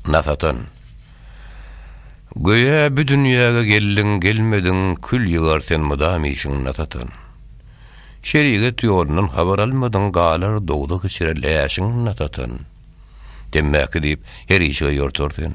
Nasadan. Göýä bü dünýäge geldiň gelmediň kül ýygar sen mydam işiň nasadan. Şeriget ýolundan habar almadyň galar dowzah içre läşiň nasadan. Temmäki diýip her işige ýortar sen.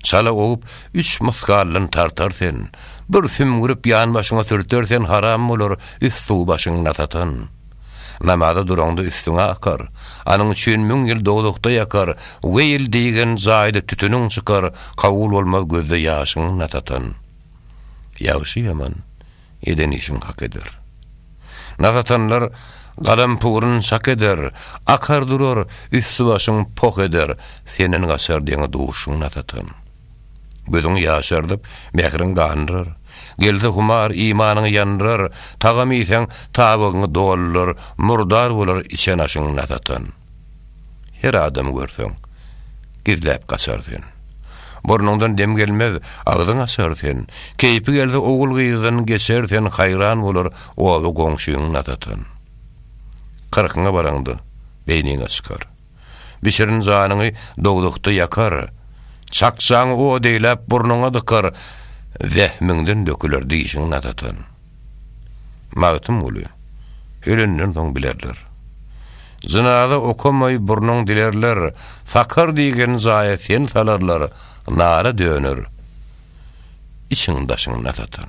Çala owyp üç mysgaldan tartar sen. Bir sümgürip ýan başyňa sürter sen haram bolar üst suw başyň nasadan. Namaza duraňda üstüňe akar, Anyň üçin müň ýyl dowzahda ýakar, Weýl diýgen jaýda tütüniň çykar, Kabul bolmaz gözde ýaşyň nasatan. Ýagşy-ýaman, eden işiň hak eder. Nasatanlar galampuryn şak eder, Akar durar, üsti-başyň poh eder, Senden gaçar deňe duşuň nasatan. Gözüňi ýaşardyp, mähriň gandyrar. Gelse humar, imanyň ýandyrar, Tagam iýseň, tabygyňy doldurar, Murdar bolar içen aşyň nasatan. Her adamy görseň, gizläp gaçar sen. Burnuňdan dem gelmez, agzyň açar sen, Keýpi gelse ogul-gyzdan geçer sen, Haýran bolar oba-goňşyň nasatan. Kyrkyňa baraňda, beýniňe çykar. Bişirin janyňy dowzahda ýakar, Çakjaňy o deýläp burnuňa dykar, Zähmiňden döküler dişiň natatan. Magtymguly, Ölenden soň bilerler. Jynaza okamaý burnuň dilerler, Sakar diýgen jaýa sen salarlar, Nara döner içiň-daşyň natatan.